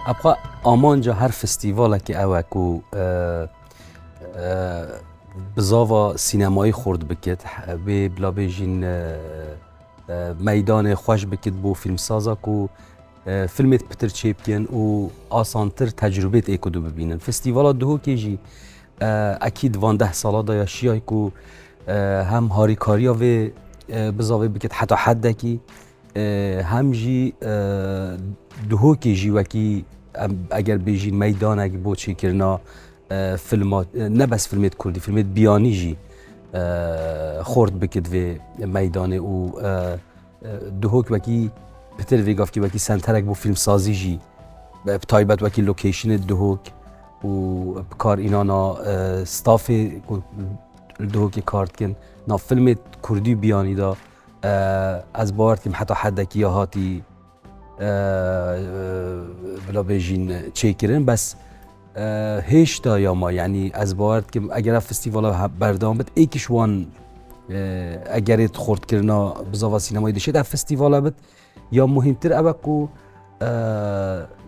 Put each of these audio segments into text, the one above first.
Apxa amanca her festîvalekê ew e ku bi zava sînemayî xurt bikit wê bila bêjîn meydanê xweş bikit bo fîlmsaza ku Filmêt pitir çêbkên û asantir tecrubêt ê ku du bibînin. Festîvala Duhokê jî ekîd van deh sala da ya şiyay ku hem harîkariya vê bizavê bikit heta heddekî hem jî Duhokê jî wekî eger bêjî meydanek bo çêkirina filma ne bes filmêt kurdî filmêt biyanî jî xort bikit vê meydanê û Duhok wekî pitir vê gavkî wekî senterek bû fîlmsazî jî bi taybet wekî lokeşinê duhok û bi kar înana stafê ku li duhokê kar dikin nav filmê kurdî biyanî da ez bawer dikim heta hedekî ya hatî bila bêjîn çêkirin bes Hêşta ya ma yanî ez bawer dikim eger festîvala berdewam bit êkiş wan egerê xortkirina bi zava sînemayî dişê de festîvala bit ya muhîmtir ew e ku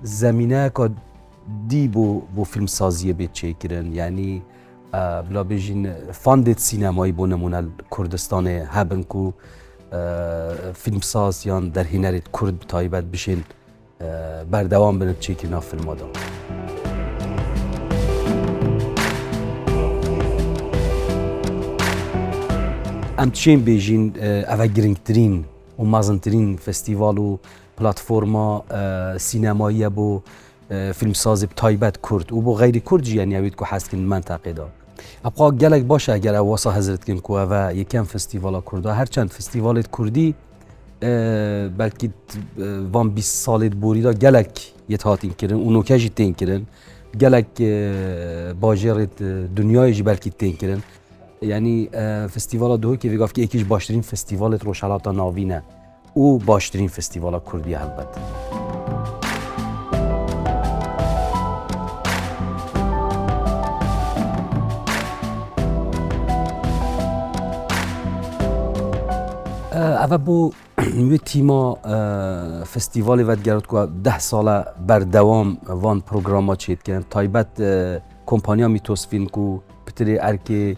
zemîneyeka dî bû bû filmsaziyê bê çêkirin yanî bila bêjin fandê sînemayî bû nimûne Kurdistanê hebin ku filmsaz yan derhênerê Kurd bi taybet bişên Berdewam bin çêkirina filma de. Em çên bêjîn ev e girngtirîn û mezintirîn festîval û platforma sînemayiye bo fîlmsazê bi taybet Kurd û bo xeyrî Kurd jî yenî evîd ku hez dikin di menteqê de. Ev xwe gelek baş e eger ew wasa hezir dikin ku ev e yekem festîvala Kurd e. Her çend festîvalê di Kurdî belkî van bîst salê di borî de gelek yet hatîn kirin û noke jî tên kirin. Gelek bajêrê dinyayê jî belkî tên kirin. Yanî festîvala Duhokê vêgavkî yekî ji baştirîn festîvalê di Rojhilata Navîn e û baştirîn festîvala Kurdî ye helbet. Ev e bo wê tîma festîvalê vedigerand ku deh sale berdewam van programa çê dikin. Taybet kompanya Mîtosfîlm ku pitirê erkê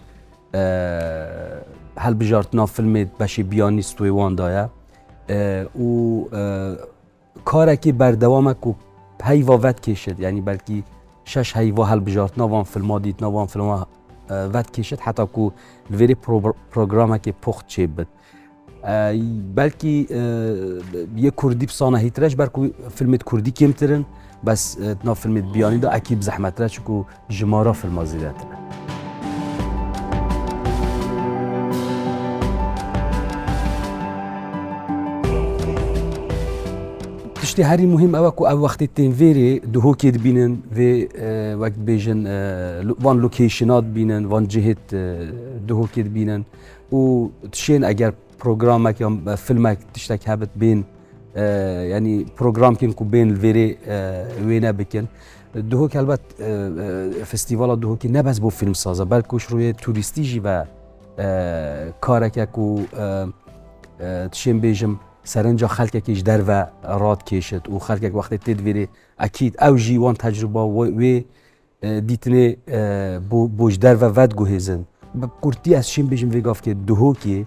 hilbijartina filmê beşê biyanî stûyê wan daye û Karekî berdewam e ku heyva vedkêşit yanî belkî şeş heyva hilbijartina van filma dîtina van filma vedkêşit heta ku li vêrê programekê pox çêbit. Belkî yê Kurdî pisana hîtire ji ber ku filmê Kurdî kêmtirin bes na filmê biyanî de ekî bi zehmetire çiku Ji ma re filma zêde tune. Tiştê herî muhîm ew e ku ev wextê tên vêrê dihokê dibînin vê wek dibêjin van location'a dibînin van cihê dihokê dibînin û tişên eger programek ya filmek tiştek hebit bên yanî programkên ku bên li vêrê wêne bikin. Duhok helbet festîvala Duhokî ne bes bo fîlmsaz e belkû ji rûyê tûrîstî jî be kareke ku tişên bêjim serenca xelkekî ji derve radkêşit û xelkek wextê tê divêrê ekîd ew jî wan tecrûba wê dîtinê bo ji derve vedguhêzin. Bi kurtî ez çîm bêjim vê gavkê Duhokî